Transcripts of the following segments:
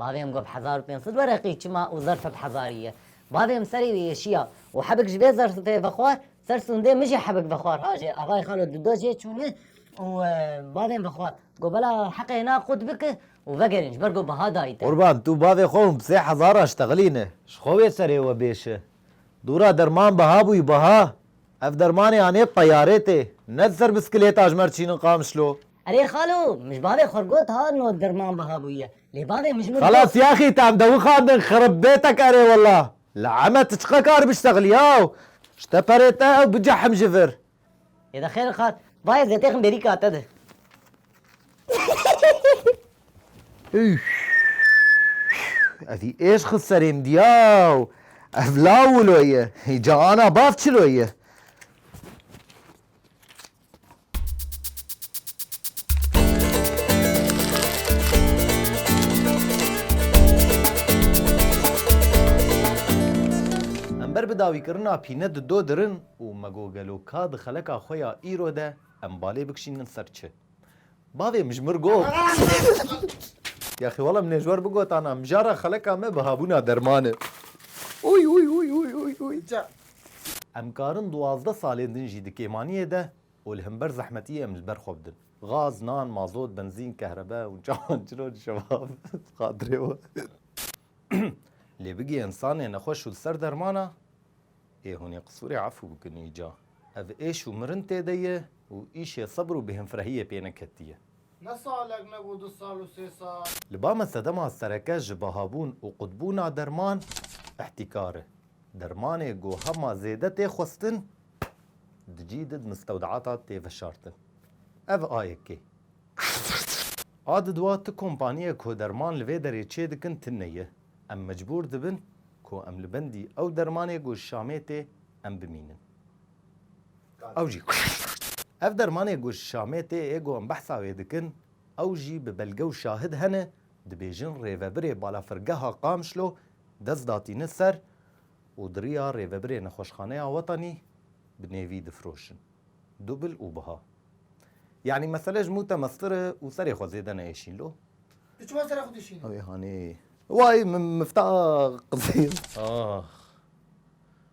Bavê min got hezar û pênc sed wereqî çima û zerf heft hezarî ye. Bavê min serê wî êşiya û hebik ji vê zerfê vexwar, ser sûndê min jî hebik vexwar hajê avayê xalo di do jê çûne û bavê min vexwar got bela heqê hêna qut bike û vegerîn ji ber ku biha dayî te. Qurban tu bavê xwe hûn bi sê hezar a ji te xilîne. Ji xwe wê serê we bêşe. Dûra derman biha bûyî biha. Ev dermanê anê bi teyarê tê. Ne di ser biskilêta ji Merçîn in Qamişlo. Erê xalo, mij bavê xwe got ha no dirman biha bûye. Lê bavê mij min got. Xelas yaxî tam de wixandin xirib bêtek erê wela. Li Eme ti çiqa kar biştexlî yaw. Ji te perê te ew bicehim ji vir. Yê de xêr xal. Bayê zetêxin bêrîka te de. Evî êş xist serê min yaw. Ev law wilo ye. Hî ca ana bav çilo ye. Ber bi dawîkirina pîne di do dirin û me got gelo ka di xeleka xwe ya îro de em balê bikişînin ser çi? Bavê min ji mir got. Yaxî wala min ê ji wer bigotana mijara xeleka me bi habûna dermane. Uy uy uy uy uy uy. Em karin duwazdeh salên din jî di kêmaniyê de û li himber zehmetiyê em li ber xwe bidin. Gaz, nan, mazot, benzîn, kehrebe û çawan çilo li şevav bi xatirê we. Lê bigê însanê nexweş û li ser dermana ê hûnê qisûrê efû bikin îca. Ev êş û mirin tê de ye. Û îşê sebr û bêhemfrehiyê pê neketiye. Ne salek ne bû du sal û sê sal. Li ba me sedema sereke ji bahabûn û qutbûna derman îhtîkar e. Dermanê ku hema zêde tê xwestin di cî di di mistewdeata tê veşartin. Ev a yekê. A di dua ti kompaniyek ku derman li vê derê çê dikin tine ye. Em mecbûr dibin ku em li bendî ew dermanê ku ji Şamê tê em bimînin. Ew jî Ev dermanê ku Şamê tê ê ku em behsa wê dikin, ew jî bi belge û şahid hene, dibêjin rêvebirê balafirgeha Qamişlo dest datîne ser û di riya rêvebirê Nexweşxaneya Wetanî bi nêvî difiroşin. Dubil û biha. Yanî mesele ji mûte meztir e û serê xwe zêde neyêşîn lo. Tu çima sera xwe dişînî? Ew ê hanê. Way min mifta qizil. Ax.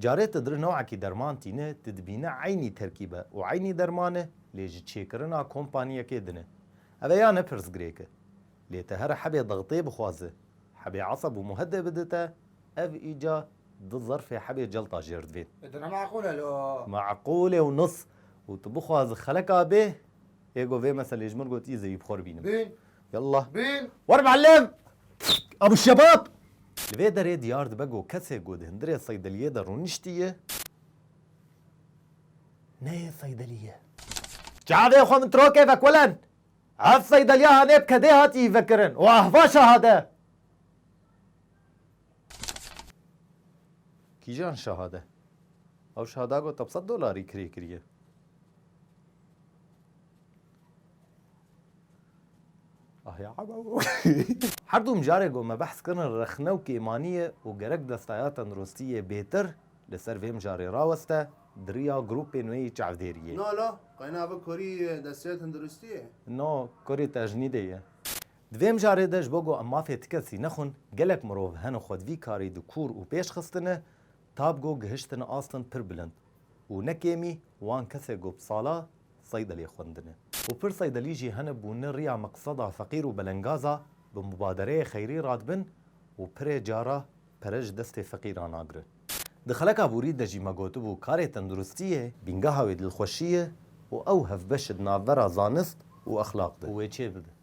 Carê tu dir newekî derman tîne, tu dibîne eynî terkîb e û eynî derman e lê ji çêkirina kompaniyekê din e. Ev ê ya ne pirsgirêk e. Lê tu here hebê dixitê bixwaze, hebê eseb û muhedê bide te, ev îca du zerfê hebê celta jêr divên. Di ne meqûl e lo. Meqûl e û nus. Û tu bixwaze xeleka bê. Yê got vê meselê ji min got yê zêwîbxwe bînim. Bîn. Yallah. Bîn. Wer muellim! Abu şebab! Li vê derê diyar dibe got kesê ku di hundirê seydeliyê de rûniştiye neyê seydeliye. Çavê xwe min trokê vekulen! Ev seydeliya hanê bi kedê hatiyî vekirin û ehvaşa hade. Kîjan şahade? Ew şahada got hepsed dolarî kirê kiriye. Ahya Her du mijarê got me behs kirin rexne û kêmaniyê û gerek destaya tenduristiyê bêtir li ser vê mijarê raweste di riya grûpên wê yê çavdêriyê. No lo, qeyna bi kurî destaya tenduristiyê? No, kurî tejnîdê ye. Di vê mijarê de ji bo ku em mafê ti kesî nexwin, gelek mirov hene xwe di vî karî de kûr û pêş xistine ta bi ku gihiştine astên pir bilind û ne kêmî wan kesê ku bi sala seydeliyê xwendine û pir seydelî jî hene bûne riya meqseda feqîr û belengaza bi mubadereyê xeyrî radibin û pirê cara pere ji destê feqîran agirin. Di xeleka borî de jî me gotibû karê tenduristî yê bîngeha wê dilxweşî ye û ew hevbeş e di navbera zanist û exlaq de û wê çêbibin.